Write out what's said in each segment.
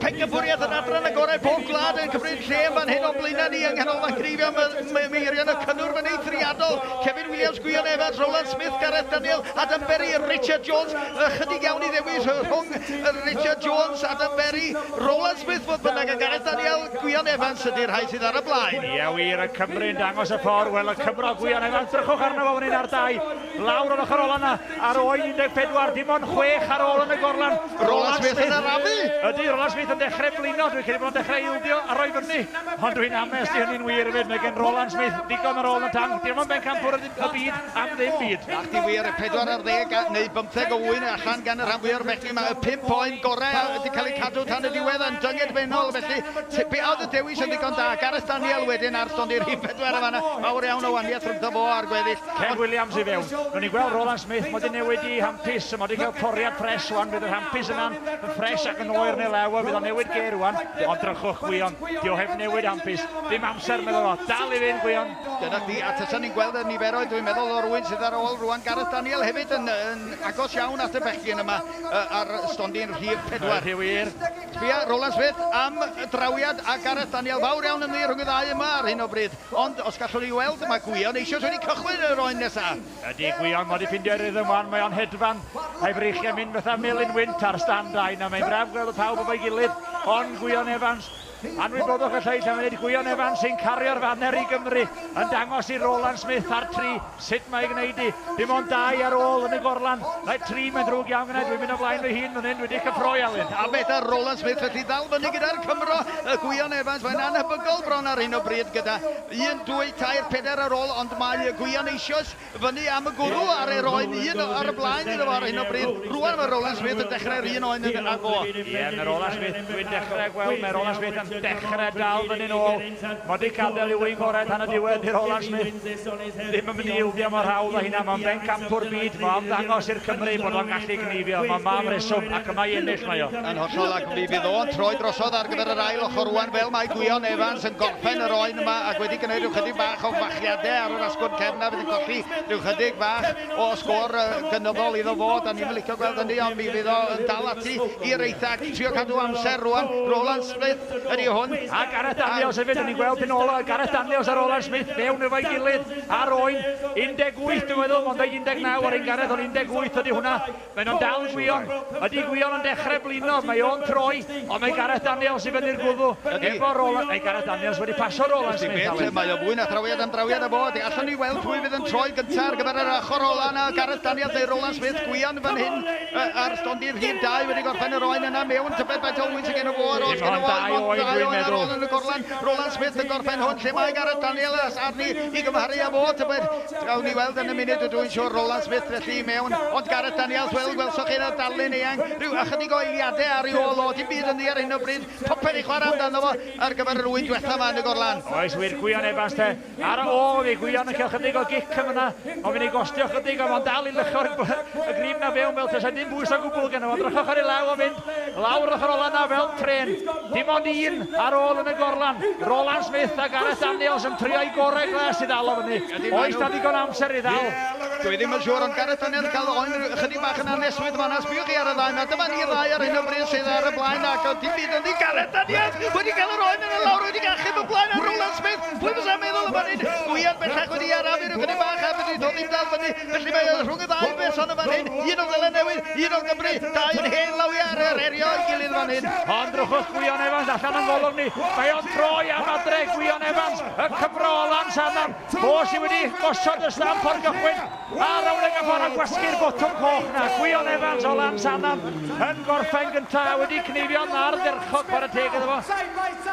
Pencampwriaeth yn adran y gorau pob gwlad yn cymryd lle yn fan hyn o'n blaenau ni yng nghanolfan greifio mae meirion y cynnwrf yn eithriadol. Kevin Williams, Gwion Evans, Roland Smith, Gareth Daniel, Adam Berry, Richard Jones. Ychydig iawn i ddewis rhwng Richard Jones, Adam Berry, Roland Smith fodd bynnag a Gareth Daniel, Gwion Evans ydy'r rhai sydd ar y blaen. Ia wir, y Cymru'n dangos y ffordd. Wel, y Cymro Gwion Evans, drychwch arno fo fan hyn ar dau. Lawr ar ochr ola 'na ar oen 14, dim ond chwech ar ôl yn y gorlan. Roland Smith yn arafu! Ydy, Roland Smith yn dechrau blino, dwi'n credu bod o'n dechrau ildio a roi fyny. Ond dwi'n ames i hynny'n wir fyd, mae gen Roland Smith ddigon ar ôl yn y tanc, dim ond bencampwr y byd am ddim byd. Ac di wir, 4 ar ddeg neu bymtheg o ŵyn allan gan y rhan fwya o'r bechgyn 'ma, y pump oen gorau a wedi cael eu cadw tan y diwedd yn dyngedfennol, felly be oedd y dewis yn ddigon da? Gareth Daniel wedyn ar stondin rhif pedwar yn fan'na, mawr iawn o wahaniaeth rhyngddo fo a'r gweddill. Kev Williams i fewn. Ro'n ni'n gweld Roland Smith mod i newid i hampus, so mod i'n cael poriad ffres rwan, bydd yr hampus yna'n yn ffres ac yn oer yn ei lew a fydd o'n newid gêr rwan. Ond drychwch Gwion, di o heb newid hampus. Dim amser medda fo. Dal i fynd Gwion! Dyna chdi, a tasan ni'n gweld y niferoedd dwi'n meddwl o rywun sydd ar ôl rwan, Gareth Daniel hefyd yn yn agos iawn at y bechgyn yma yy ar stondin rhif pedwar. Ydi wir. Sbia, Roland Smith am drawiad a Gareth Daniel fawr iawn yn ddi rhwng y ddau yma ar hyn o bryd. Ond, os gallwn ei weld, mae Gwion eisoes wedi cychwyn yr oen nesaf. Ydy, Gwion, mae dy ffrindiau rythm 'wan, mae o'n hedfan, a'i freichiau'n mynd fatha melyn wynt ar stand a'i na, mae'n braf gweld y pawb efo'i gilydd, ond, Gwion Evans, anwybodwch y lleill am funud, Gwion Evans sy'n cario'r faner i Gymru, yn dangos i Roland Smith ar tri, Sut mae gwneud i? Dim ond dau ar ôl yn y gorlan. Mae tri, mae'n ddrwg iawn gennai, dwi'n mynd o flaen fy hun fan hyn, dwi 'di cyffroi Alun. A beth ar Roland Smith felly? Ddal fyny gyda'r Cymro, y Gwion Evans, mae'n annhebygol bron ar hyn o bryd gyda un, dwy, tair, pedair ar ôl ond mae y Gwion eisioes fyny am y gwrw ar er oen, un ar y blaen iddo fo ar hyn o bryd. Rŵan mae Roland Smith yn dechrau'r un oen yn agoa. Ie, mae Roland Smith, dwi'n dechrau gweld, mae Roland Smith yn dechrau dal fyny'n ôl. Mae Dic Adel yw ein gorau tan y diwedd, dy Roland Smith ddim yn mynd i ildio mor hawdd â hynna, mae'n bencampwr byd, mae o am ddangos i'r Cymry bod o'n gallu gneifio, mae mam reswm, ac yma i ennill mae o. Yn hollol, ac mi fydd o'n troi drosodd ar gyfer yr ail ochr rwan fel mae Gwion Evans yn gorffen yr oen yma ac wedi gwneud rhyw chydig bach o fachiadau ar yr asgwrn cefn a fydd yn colli rhyw chydig bach o sgôr gynyddol iddo fo, da ni'm yn licio gweld hynny ond mi fydd o yn dal ati i'r eitha ac trio cadw amser rwan, Roland ydy hwn, a Gareth Daniels hefyd, yn ni'n gweld yn ôl Gareth Daniels ar ôl Smith fewn efo'i gilydd ar oen 18 dwi'n meddwl, ond 19 ar ein Gareth ond 18 ydy hwnna, mae'n o'n dal Gwion, ydy Gwion yn dechrau blino, mae o'n troi, ond mae Gareth Daniels i fyny'r gwddw, efo rôl, mae Gareth Daniels wedi pasio rôl ar Smith Allen. Mae o fwy na thrawiad am drawiad a fo, ydy, allwn ni weld pwy fydd yn troi gyntaf ar gyfer yr ochr ola yna, Gareth Daniels neu Roland Smith, Gwion fan hyn, Ar stondin rhif dau wedi gorffen yr oen yna mewn tybed faint o ŵyn sy gen y fo ar ôl gen y fo dim ond dau oen ar ôl yn y gorlan Roland Smith yn gorffen hwn lle mae Gareth Daniels arni i gymharu a fo tybed gawn ni weld yn y munud ydw i'n siwr Roland Smith felly i mewn ond Gareth Daniels wel gwelsoch chi yna darlun eang rhyw ychydig o eiliadau ar ei ôl o dim byd yn ddi ar hyn o bryd popeth i chwarae amdano fo ar gyfer yr ŵyn diwetha yma yn y gorlan Oes wir Gwion Evans te Ar ôl i Gwion yn cael chydig o gic yn fyna, mae'n mynd i gostio chydig ond mae'n dal i lycho y grib na fewn fel tasa dim bwys o gwbl geno fo. Drychwch ar ei law o'n mynd lawr yr ochr ola na fel trên. Dim ond un ar ôl yn y gorlan. Roland Smith a Gareth Daniels yn trio'u gorau glas i ddal o fyny. Oes 'na ddigon o amser i ddal? Dwi ddim yn siŵr ond Gareth Daniels yn cael oen chydig bach yn anesmwyth yn fan'na. Sbïwch chi ar y ddau 'ma. Dyma ni'r ddau ar hyn o bryd sydd ar y blaen ac does dim byd ynddi. Gareth Daniels wedi cael yr oen yn y lawr wedi achub y blaen ar Roland Smith. Pwy fysa'n meddwl y mae'n un gwian bellach wedi arafu rhyw gynnig bach a fedri ddo ddim dal fyny, felly mae o rhwng y ddau berson yn fan hyn, un o Seland Newydd, un o Gymru, dau yn hen lawiau ar yr herio ei gilydd fan hyn. Ond drwchus Gwion Evans allan o'n golwg ni, mae o'n troi am adre, Gwion Evans, y Cymro o Lansannan, fo sydd wedi gosod y stamp o'r gychwyn. Ar y wing y bore gwasgu'r botwm coch 'na, Gwion Evans o Lansannan yn gorffen gyntaf a wedi cneifio yn ardderchog, chwarae teg iddo fo.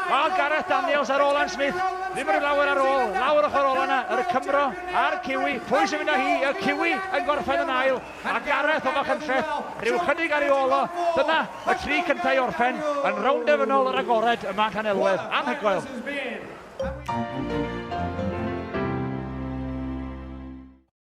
Wel, Gareth Daniels a Roland Smith ddim rhyw lawer ar ôl, lawr ochr ola 'na, yr Cymro a'r Kiwi, pwy sy'n mynd â hi, y Kiwi yn gorffen yn ail, a Gareth o Fachynlleth rhyw chydig ar ei ôl o, dyna y tri cyntaf i orffen yn rownd derfynol yr agored yma yn Llanelwedd, anhygoel!